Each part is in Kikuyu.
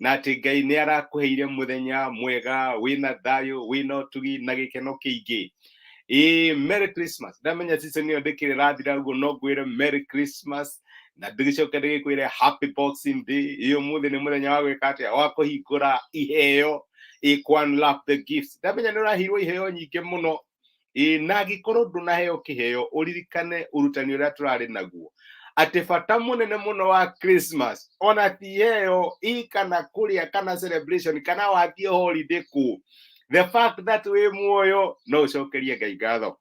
na atä ngai nä arakå heire må thenya mwega wä na thayå wä na å tugi na gä keno kä ingä Ĩĩ, merry christmas ndamenya season ĩyo ndĩkĩrĩ rathira ũguo no ngwĩre merry christmas na ndĩgĩcoke ndĩgĩkwĩre happy boxing day ĩĩ ũmũthĩ nĩ mũthenya wa gwĩka atĩa wa kũhingũra iheo ĩĩ kwanlap the gifts ndamenya nĩ ũraheirwo iheo nyingĩ mũno Ĩ, na angĩkorwo ndũnaheo kĩheo ũririkane ũrutani ũrĩa tũrarĩ naguo atĩ bata mũnene mũno wa christmas ona ti heo ĩ kana kũrĩa kana celebration kana wathiĩ holiday kũ the fact that wĩ muoyo no ũcokerie ngai ngatho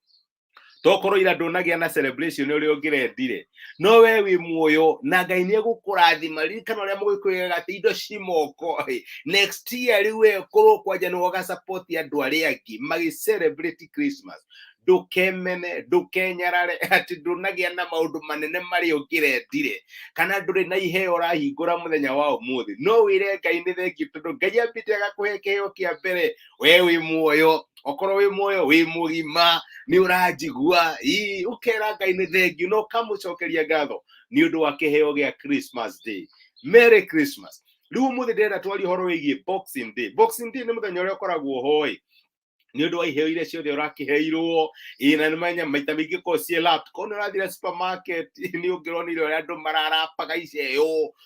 tokorwo ira ndũnagĩa na celebration ũrĩa ũngĩrendire no we wĩ muoyo na ngai nĩ egũkũrathima ririkana ũrĩa mũgĩkwĩgaga atĩ indo ci moko ĩ next year rĩu we korwo kwanja nĩ woga support ya andũ arĩa angĩ magĩ celebrate christmas ndũkemene ndũkenyarare atĩ ndũnagĩa na maũndũ manene marĩa ũngĩrendire kana ndũrĩ na iheo ũrahingũra mũthenya wa ũmũthĩ no wĩre ngai nĩ thengiũ tondũ ngai ambĩte agakũhe kĩheo kĩa mbere we wĩ muoyo okorwo wĩ muoyo wĩ mũgima nĩ ũranjigua ii ũkera ngai nĩ thengiũ na ũkamũcokeria ngatho nĩ ũndũ wa kĩheo gĩa christmas day merry christmas rĩu ũmũthĩ ndĩrenda twarie ũhoro wĩgiĩ boxing day boxing day nĩ mũthenya ũrĩa ũkoragwo hoĩ nĩ ũndũ wa iheo iria ciothe ũrakĩheirwo ĩĩ na nĩ manya maita maingĩ korwo ciĩ lap korwo nĩ ũrathire supermarket nĩ ũngĩronire ũrĩa andũ mararapaga iceo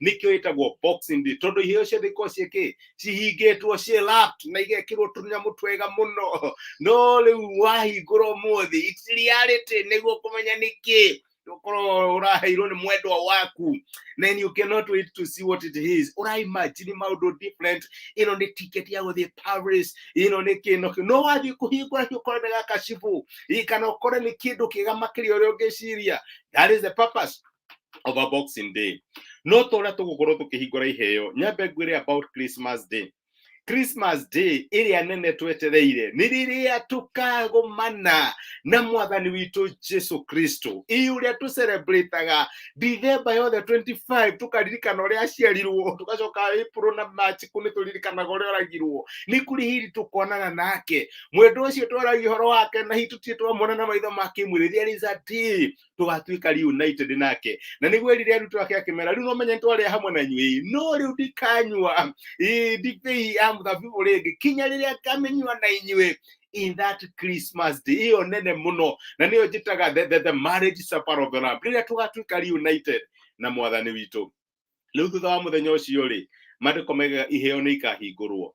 nikio itagwo boxing day tondu iheo ciothe ikorwo ciä kä cihingätwo ciä lapped na igekirwo tũnyamũ twega mũno no rĩu wahingũrwo mũthĩ it's reality nĩguo kũmenya nĩkĩ ukorwo uraheirwo ni mwendwa waku then you cannot wait to see what it is uraimagine maundu different ino ni ticket ya guthie paris ino ni kino no wathie kuhingura ki ukore ndagakashibu kana ukore ni kindu kiga makiria uria ungiciria that is the purpose over boxing day no ta uria tugukorwo tukihingura iheo nyambe ngwire about christmas day christmas day ĩrĩa nene twetereire nĩ rĩrĩa tũkagomana na mwathani witũ jesu kristo ĩ ũrĩa tũcelebrataga ndithemba yothe 25 tũkaririkana ũrĩa aciarirwo tũgacoka april na march kũ nĩ tũririkanaga ũrĩa oragirwo nĩ kũrĩ hiri tũkonana nake mwendwa ũcio twaragia ũhoro wake na hihi tũtirĩ twamona na maitho ma kĩmwĩrĩ there is a day tũgatuĩka reunited nake na nĩguo erire arutwo ake akĩmera rĩu no menye nĩtwarĩa hamwe na inyuĩ no rĩu ndikanyua eh, ndibei ya mũthabibũ rĩngĩ kinya rĩrĩa ngamĩnyua na inyuĩ in that christmas day ĩyo nene mũno na nĩyo njĩtaga the, the, the marriage supper of the lamb rĩrĩa tũgatuĩka reunited na mwathani witũ rĩu thutha wa mũthenya ũcio rĩ mandĩko maigaga iheo nĩ ikahingũrwo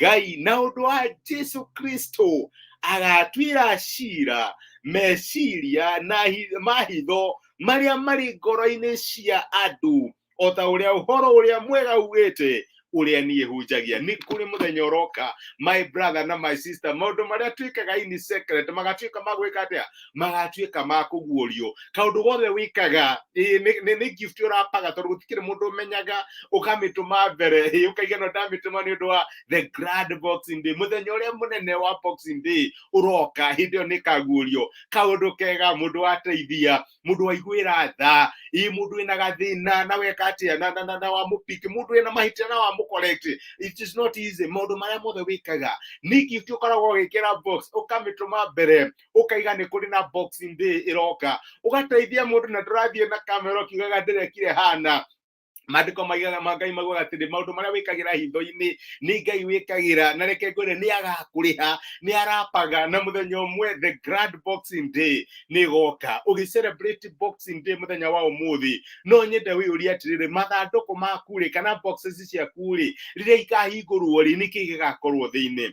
ngai na ũndũ wa jesu kristo agatuĩra cira meciria na hi- mahitho marĩa marĩ ngoro-inĩ cia andũ o ta ũrĩa ũhoro ũrĩa mwega ugĩte ũrĩa niĩ hunjagia nĩ kũrĩ mũthenya ũroka my brother na my sister maũndũ marĩa twĩkaga in secret magatuĩka magwĩka atĩa magatuĩka ma kũguũrio kaũndũ gothe wĩkaga ĩĩ, nĩ- nĩ nĩ gift ũrapaga tondũ gũtikĩrĩ mũndũ ũmenyaga ũkamĩtũma mbere ĩĩ, ũkaigua no ndamĩtũma nĩ ũndũ wa the grand boxing day mũthenya ũrĩa mũnene wa boxing day ũroka hĩndĩ ĩyo nĩ kaguũrio kaũndũ kega mũndũ wateithia mũndũ waiguĩra tha ĩĩ mũndũ wĩna gathĩna na weka atĩa na, na, na, na wamũpiki mũndũ wĩna mahĩtia na wamũcorrect it is not easy maũndũ marĩa mothe wĩkaga nĩ gift ũkoragwo ũgĩkĩra box ũkamĩtũma mbere ukaiga ni kuri na boxing day iroka ugateithia mundu na ndurathie na kamera ukiugaga ndirekire hana maandĩko maigaga ma ngai maugaga atĩrĩ maũndũ marĩa wĩkagĩra hitho-inĩ nĩ ngai wĩkagĩra na reke ngwĩre nĩ agakũrĩha nĩ arapaga na mũthenya ũmwe the grand boxing day nĩ ĩgoka ũgĩ celebrate boxing day mũthenya wa ũmũthĩ no nyende wĩyũrie atĩrĩrĩ mathandũkũ maku rĩ kana boxes ciaku rĩ rĩrĩa ikahingũrwo rĩ nĩkĩ gĩgakorwo thĩinĩ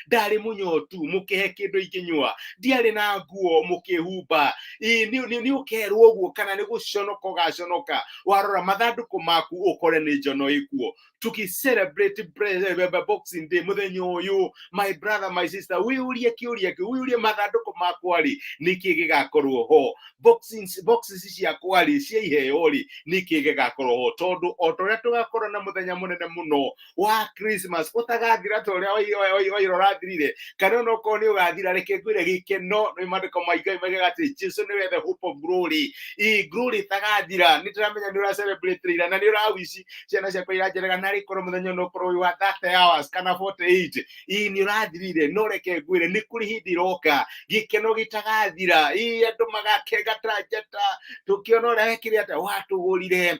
ndarĩ mũnyotu mũkĩhe kĩndũ ingĩnyua ndiarĩ na nguo mũkĩhumba Ĩ, nĩ nĩ- nĩ ũkerwo ũguo kana nĩ gũconoka ũgaconoka warora mathandũkũ maku ũkore nĩ njono ĩkuo tuki celebrate bre- be- be- boxing day mũthenya ũyũ my brother my sister wĩyũrie kĩũria kĩu wĩyũrie mathandũkũ makwa rĩ nĩkĩ gĩgakorwo ho boxing boxes ciakwa rĩ cia iheo rĩ nĩkĩ gĩgakorwo ho tondũ o ta ũrĩa tũgakorwo na mũthenya mũnene mũno wa christmas ũtagathira ta ũrĩa wai- wai- wai- waira ũrathirire kana ona okorwo nĩ ũgathira reke ngwĩre gĩkeno nĩ mandĩko ma ngai maigaga atĩ jesu nĩwe the hope of glory i glory ĩtagathira nĩ ndĩramenya nĩ ũracelebrate ira na nĩ ũrawici ciana ciakwa iranjerega narĩ korwo mũthenya ona ũkorwo wĩ wa 30 hours kana 48 ii nĩ ũrathirire no reke ngwĩre nĩ kũrĩ hĩndĩ ĩroka gĩkeno gĩtagathira ii andũ magakenga ta njata tũkĩona ũrĩa wekire atĩa watũgũrire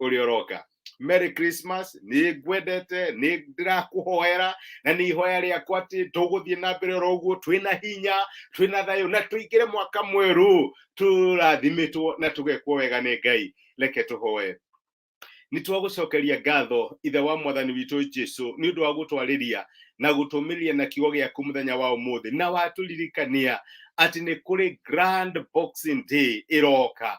ũrĩ oroka merry christmas nĩ ngwendete nĩ ndĩrakũhoera na nĩ ihoya rĩakwa atĩ tũgũthiĩ na mbere oro ũguo twĩna hinya twĩna thayũ na tũingĩre mwaka mwerũ tũrathimĩtwo na tũgekwo wega nĩ ngai reke tũhoe nĩ twagũcokeria ngatho ithe wa mwathani witũ jesu nĩ ũndũ wa gũtwarĩria na gũtũmĩrĩria na kiugo gĩaku mũthenya wa ũmũthĩ na watũririkania atĩ nĩ kũrĩ grand boxing day ĩroka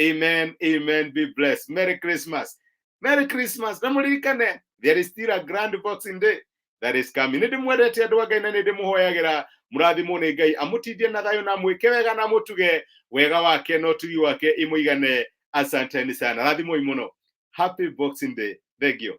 Amen. Amen. Be blessed. Merry Christmas. Merry Christmas. Namuririkane. There is still a grand boxing day that is coming. Nĩ ndĩmwendete andũ a Ngai na nĩ ndĩmũhoyagĩra mũrathimwo nĩ Ngai amũtindie na thayũ na mwĩke wega na mũtuge wega wake na ũtugi wake imũigane. Asanteni sana. Rathimoi mũno. Happy Boxing Day. Thank you.